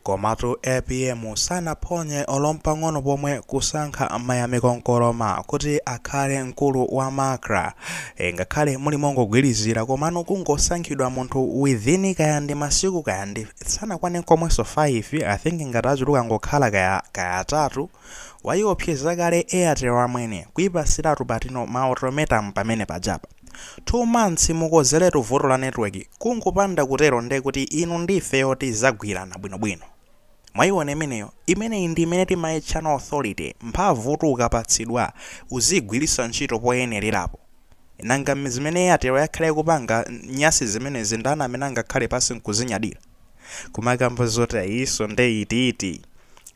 Komatu apm sanaphonye olompang'ono pomwe kusankha Mayamiko Nkoloma kuti akhale mkulu wa macra ngakhale muli mongogwirizira komano kungosankhidwa munthu within kaya ndi masiku kaya ndi sanakwane nkomwenso 5 i think ngati atachuluka angokhala kaya kaya atatu wayiopseza kale airtel amwene kuyipasiratu patino ma ultimatum pamene pajapa 2 months mukonzeretu vuto la network kungopanda kutero nde kuti inu ndi ifeyo tizagwirana bwino bwino mwayiona imeneyo imeneyi ndi imene timayitchano authority mphamvutu ukapatsidwa uziyigwiritsa ntchito poyenererapo nanga zimene airtel yakhala ikupanga nyasi zimenezi ndani amene angakhale pansi nkuzinyadila kumakamba zoti ayiso nde iti iti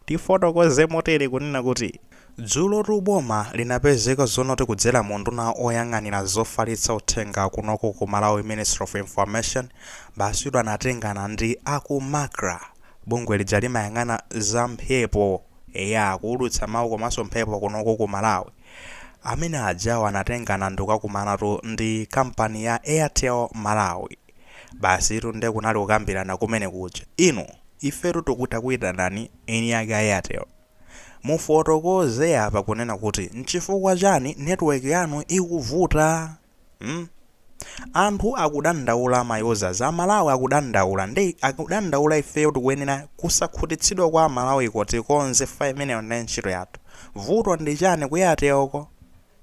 tifotokoze motere kunena kuti Dzulotu boma linapezeka zonoti kudzera mu unduna oyang'anira zofalitsa uthenga kunoko ku Malawi Ministry of Information basitu anatengana ndi aku macra bungwe lija limayang'ana za mphepo ya kuulutsa mawu komanso mphepo kunoko ku Malawi amene ajawo anatengana ndikukakumanatu ndi kampani ya Airtel Malawi basitu nde kunali kukambirana kumene kuja inu ifetu tikuti takuitanani eni ake a Airtel Mufotokoze apa kunena kuti nchifukwa chani network yanu ikuvuta mm? Anthu akudandaula ma users a Malawi akudandaula nde akudandaula ifeyo tikuyenera kusakhutitsidwa kwa aMalawiko tikonze fayi imeneyo nde ntchito yathu vuto ndi chani ku Airtel ko?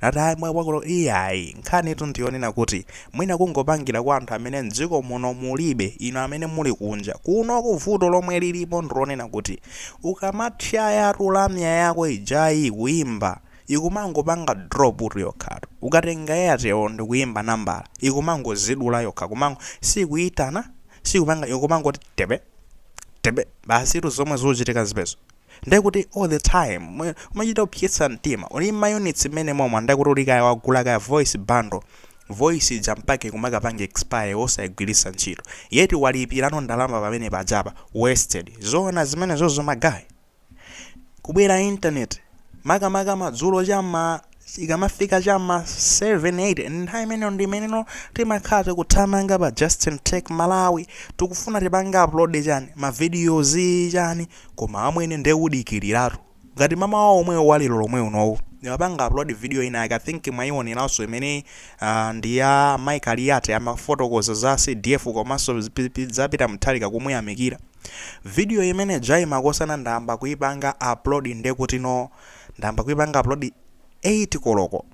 Nati ayi mwa kwakuti iyayi nkhanitu ndi yonena kuti mwina kungopangira kwa anthu amene m'dziko muno mulibe, inu amene muli kunja. Kunoku vuto lomwe lilipo ndi lonena kuti ukamatchayatu lamya yako ijayi kuimba ikumangopanga drop tu yokhatu. Ukatenga Airtel ndi kuimba nambala, ikumangozidula yokha kumango siikuitana, siikupanga, ikumangoti tepe, tepe, basitu zomwe zikuchitika zimenezo. ndekuti all the time umachita kupsetsa mtima uli ndi mayunitsi mmenemo amwene ndekuti uli kaya wagula kaya voice bundle voice ija mpake kumakapanga expire osayigwiritsa ntchito yet walipirano ndalama pamene pajapa wasted zoona zimenezozo magayi kubwera internet makamaka madzulo cha mma Ikamafika cha ma 7, 8 ndi nthawi imeneyo ndi imeneno timakhala tikuthamanga pa Justin Tech Malawi tikufuna tipange upload chani ma videos chani koma amwene nde udikiliratu ngati mmamawa omwewu wa lero lomwe unowu ndimapanga upload video ina yake i think mwaioneranso imene ah, ndi ya Mai Kaliati amafotokoza za CDF komanso pi- pi- za Peter Mutharika kumuyamikira video imene ijayi makosana ndayamba kuipanga upload ndekutino ndayamba kuipanga upload 8 koloko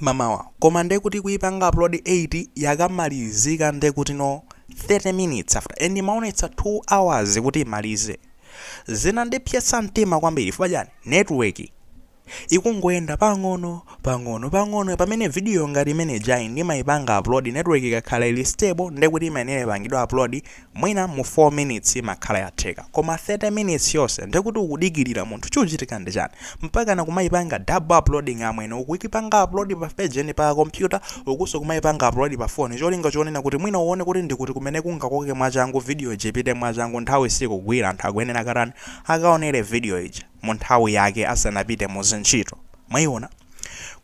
mamawa koma nde kuti kuipanga upload 8 yakamalizika nde kuti no 30 minutes after and imaonetsa 2 hours kuti imalize zinandipsetsa mtima kwambiri fuka chani network ikungoyenda pang'ono pang'ono pang'ono pamene video ngati imene ijayi ndimayipanga upload network ikakhala ili stable ndekuti imayenera ipangidwa upload Mwina mu 4 minutes imakhala yatheka koma 30 minutes yonse ndekuti ukudikirira munthu chuchitika ndi chani? Mpakana kumaipanga double uploading amwene ukuipanga upload pa page eni pa computer ukunso kumaipanga upload pa phone cholinga chonena kuti mwina uone kuti ndikuti kumene kungakoke mwachangu video ija ipite mwachangu nthawi sikugwira anthu akuyenera akatani? Akaonere video ija. mu nthawi yake asanapite mu zintchito. Mwayiona?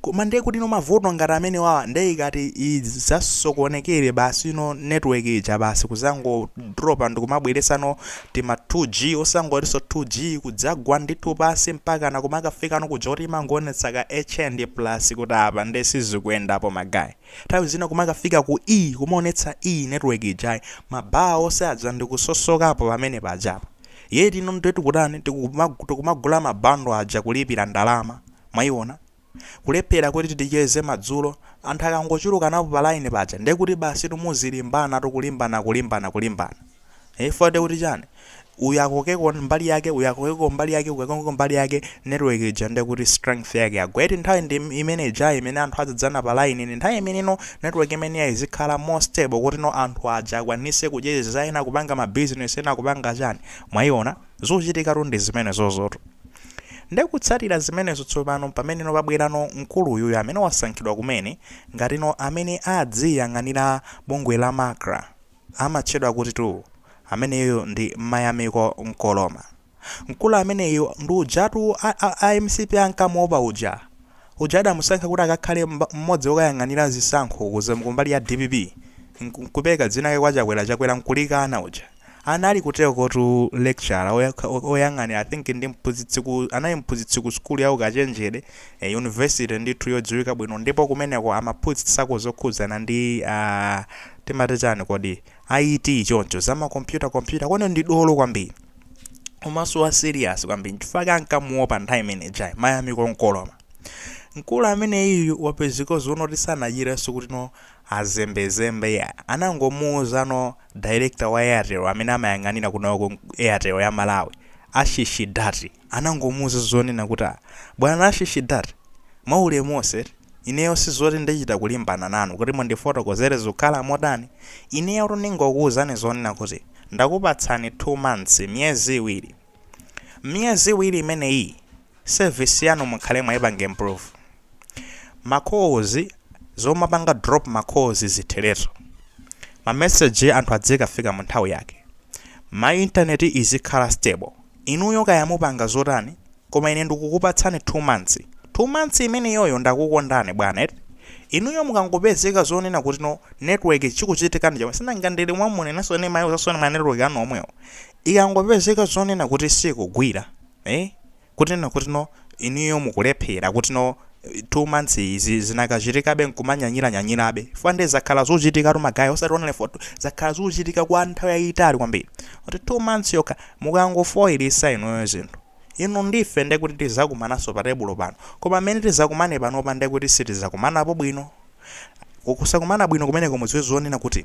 Koma ndiye kuti no mavuto ngati amenewawa ndiye ikati idzasokonekere basi no network ija basi kudzangodropa ndikumabweretsa no tima 2G osangotinso 2G kudzagwa ndithu pansi mpaka na kumakafika no kuja koti imangoonetsa ka H plus kuti apa ndiye sizikuyendapo magayi. Nthawi zina kumakafika ku E kumaonetsa E network ijayi ma bar onse aja ndikusowapo pamene pajapa. Yet ndiye tikutani tikumagu- tikumagula ma bundle aja kulipira ndalama. Mwaiona? Kulephera kuti ticheze madzulo, anthu akangochulukanapo pa line paja ndiye kuti basitu muzilimbana tu kulimbana kulimbana kulimbana. Eh chifukwa ndiye kuti chani? Uyu akokeko mbali yake, uyu akokeko mbali yake, uyu akokeko mbali yake, network ija ndiye kuti strength yake yagwa. Yet nthawi ndi im- imene ijayi imene anthu adzadzana pa line ndi nthawi imeneno Network imene ijayi izikhala more stable kuti no anthu aja akwanise kucheza ena kupanga ma business ena kupanga chani. Mwayiona? Zochitika tu ndi zimenezozotu. Nde kutsatira zimenezo tsopano mpamene no pabwera no mkulu uyuyu amene wasankhidwa kumene ngati no amene adziyang'anira bungwe la Macra. Amatchedwa kuti tu ameneyo ndi Mayamiko Nkoloma. Mkulu ameneyo ndi ujatu a, a, a mcp ankamuopa uja. Uja adamusankha kuti akakhale mba, mmodzi wokayang'anira zisankho ku za, kumbali ya dpp. Nku, nkupereka dzina lake kwa Chakwera, Chakwera nkulikana uja. Anali kuterekotu lecturer oya, oyang'anira I think ndi mphunzitsi ku, anali mphunzitsi ku sukulu ya ukachenjede, university ndithu yodziwika bwino ndipo kumeneko amaphunzitsako zokhudzana ndi a, timati chani kodi? IT choncho za ma computer computer kweni ndi dolo kwambiri komanso wa serious kwambiri nchifukwa chake ankamuopa nthawi imene ijayi Mayamiko Nkoloma mkulu amene uyu wapezeka zonena kuti sanachitenso kuti no azembezembe ya anangomuuza no director wa airtel amene amayang'anira kunoko airtel ya malawi Aashish Dutt anangomuuza zonena kuti ah bwana Aashish Dutt mwa ulemu onse eti, ineyo sizoti ndichita kulimbana nanu kuti mundifotokozere zikukhala motani, ineyotu ndingokuuzani zonena kuti ndakupatsani 2 months, miyezi iwiri. Mmiyezi iwiri imeneyiyi service yanu mukhale mwaipanga improve. ma calls zomapanga drop ma calls zitheretu ma message anthu adzikafika mu nthawi yake ma internet izikhala stable inuyo kaya mupanga zotani koma ine ndikukupatsani 2 months 2 months imeneyoyo ndakukondani bwana eti inuyo mukangopezeka zonena kuti no network chikuchitika ndi chomwe sinanga ndili mwamunenanso ine mayi uzasoni ma network anu omwewo ikangopezeka zonena kuti sikugwira eh kuti no kuti no inuyo mukulephera kuti no 2 months izi zinakachitikabe nkumanyanyira nyanyirabe chifukwa nde zakhala zuchitikatu ma guy osati only for zakhala zuchitika kwa nthawi yayitali kwambiri kuti 2 months yokha mukangofoilisa inuyo zinthu inu ndife ndekuti tizakumanaso pa tebulo pano koma mmene tizakumane panopa ndekuti sitizakumanapo bwino kusakumana bwino kumeneko mudziwe zonena kuti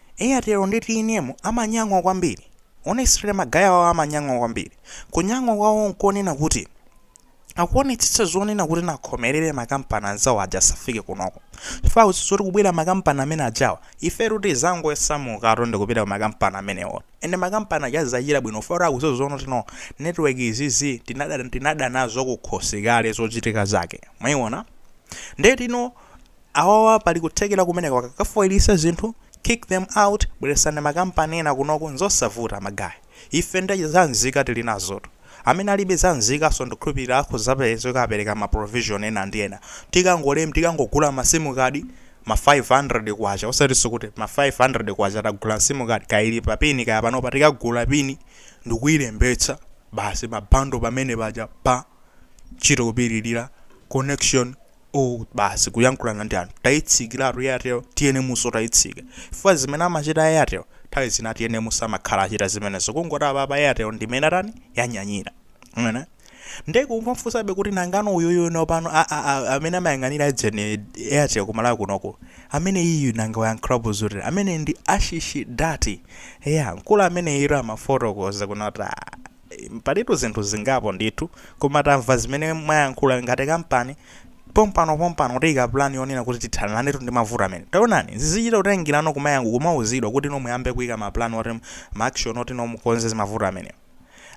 Airtel ndi tnm amanyang'wa kwambiri. Honestly ma guy awawa amanyang'wa kwambiri. Kunyang'wa kwawo nkonena kuti akuonetsetsa zonena kuti no akhomelere ma kampani anzawo aja asafike kunoko. Chifukwa akudziwa kuti kubwera ma kampani amene ajawa, ifetu tidzangosamukatu ndikupita ku ma kampani amenewo. And ma kampani aja azidzachita bwino chifukwa kuti akudziwa zonena kuti no, network izizi tinada, tinada nazo kukhosi kale zochitika zake. Mwaiona? Ndeti no. Awawa pali kuthekera kumeneko akakafoilisa zinthu kick them out bweresani ma kampani ena kunoko nzosavuta ma guy ife nde za nzika tilinazotu amene alibe za nzikaso ndikukhulupilira akhoza pezeka apereka ma provision ena ndi ena tikangolem tikangogula ma sim card ma K500 osatiso kuti ma K500 tagula sim card kaya ili pa pin kaya panopa tikagula pin ndikuilembetsa basi ma bundle pamene paja pa ntchito kupililira connection o basi kuyankhulana ndi anthu tayitsikiratu airtel tnmso tayitsika chifukwa zimene amachita a airtel nthawi zina tnm samakhala achita zimenezo kungoti apapa airtel ndimene atani yanyanyira Mwaona? nde kumamfunsabe kuti nangano uyuyu nopano a- a- a- amene amayang'anira ujeni airtel ku Malawi kunoko ameneyu nanga wayankhulapo zotani amene ndi Aashish Dutt eya mkulu ameneyo amafotokoza kunena kuti Palitu zinthu zingapo ndithu koma tamva zimene mwayankhula ngati kampani pompano pompano tiyika plan yonena kuti tithanilanetu ndi mavuto amene taonani zizichita kutengilano kumayank kumauzidwa kuti no muyambe kuyika ma plan oti ma action oti no mukonze mavuto amenewa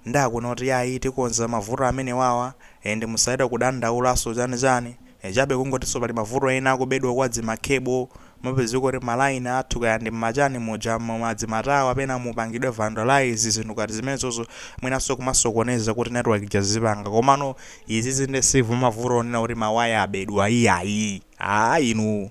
nde akunena kuti yayi tikonza mavuto amenewawa and musachite kudandaulaso chani chani chabe kungotiso pali mavuto ena a kubedwa kwa dzima cable Mmapezeka kuti ma line athu kaya ndi mmachani muja mma madzimatawa pena mupangidwe vandalise zinthu ngati zimenezozo mwinanso kumasokoneza kuti network ija izipanga komano izizi nde si mavuto onena kuti ma wire abedwa iyayi aah inu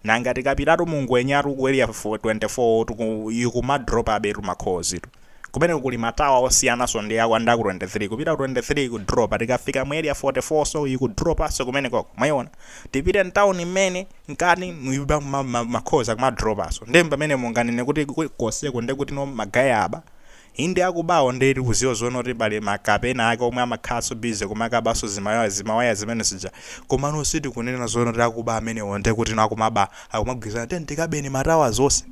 nanga tikapitatu mu Ngwenyatu ku area 24 tu ikumadropabetu ma calls'tu. Kumeneko kuli ma tower osiyananso ndi a kwa nda ku 23 kupita ku 23 iku dropa tikafika mu area 44 so iku dropanso kumenekoko mwaiona tipite mtauni mmene mkati muyuba kuma ma, ma calls akuma dropanso nde pamene munganene kuti ku- konseko nde kuti no ma guy aba inde akubawo nde tikuziwa zoona kuti pali ma kape ena ake omwe amakhalanso busy kumakabanso zimaya zimawaya zimene zija komano sitikunena zoona kuti akuba amenewo nde kuti no akumaba akumagwirizana tiyeni tikabeni ma towers onse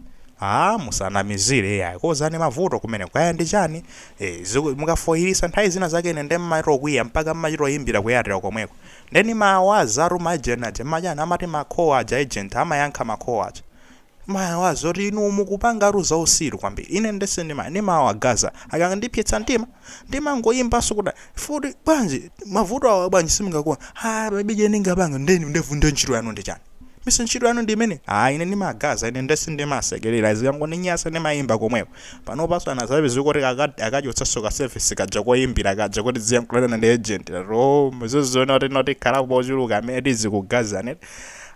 Aaa musanamizile iyayi kozani mavuto kumeneko kaya ndi chani ee ziku mukafoilisa nthawi zina zake ine nde mmatokwiya mpaka mmachitoyimbila ku airtel komweko nde ndimawazatu ma agent aja mmachani amati ma call aja agent amayankha ma call aja ndimawawaza zoti inu mukupangatu zausilu kwambiri ine nde sindima ndimawagaza akandipsetsa mtima ndimangoyimbanso kuti futi bwanji mavuto awa bwanji simungakonze ah baby je ndingapanga ndeni ndevu nde ntchito yanu ndi chani mise ntchito yanu ndi imene ah ine ndimagaza ine nde sindimasekerera zikangondinyasa ndimayimba komweko panopanso anazabe zikuti aka- akachotsanso ka service kaja koyimbira kaja kuti uziyankhulana ndi agent ro muziziona kuti no tikhalapo ochuluka amene tizikugazani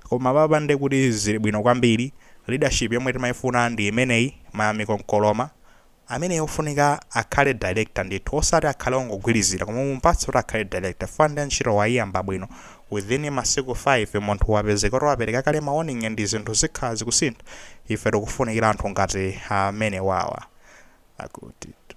koma apapa ndi kuti zili bwino kwambiri leadership yomwe timayifuna ndi imeneyi Mayamiko Nkoloma Ameneyo ofunika akhale director ndithu osati akhale ongogwilizira koma mumupatse kuti akhale director chifukwa nde ntchito waiyamba bwino within masiku 5 munthu wapezeka kuti wapereka kale ma warning ndi zinthu zikhala zikusintha. Ife tikufunikira anthu ngati amenewawa. Akutitu.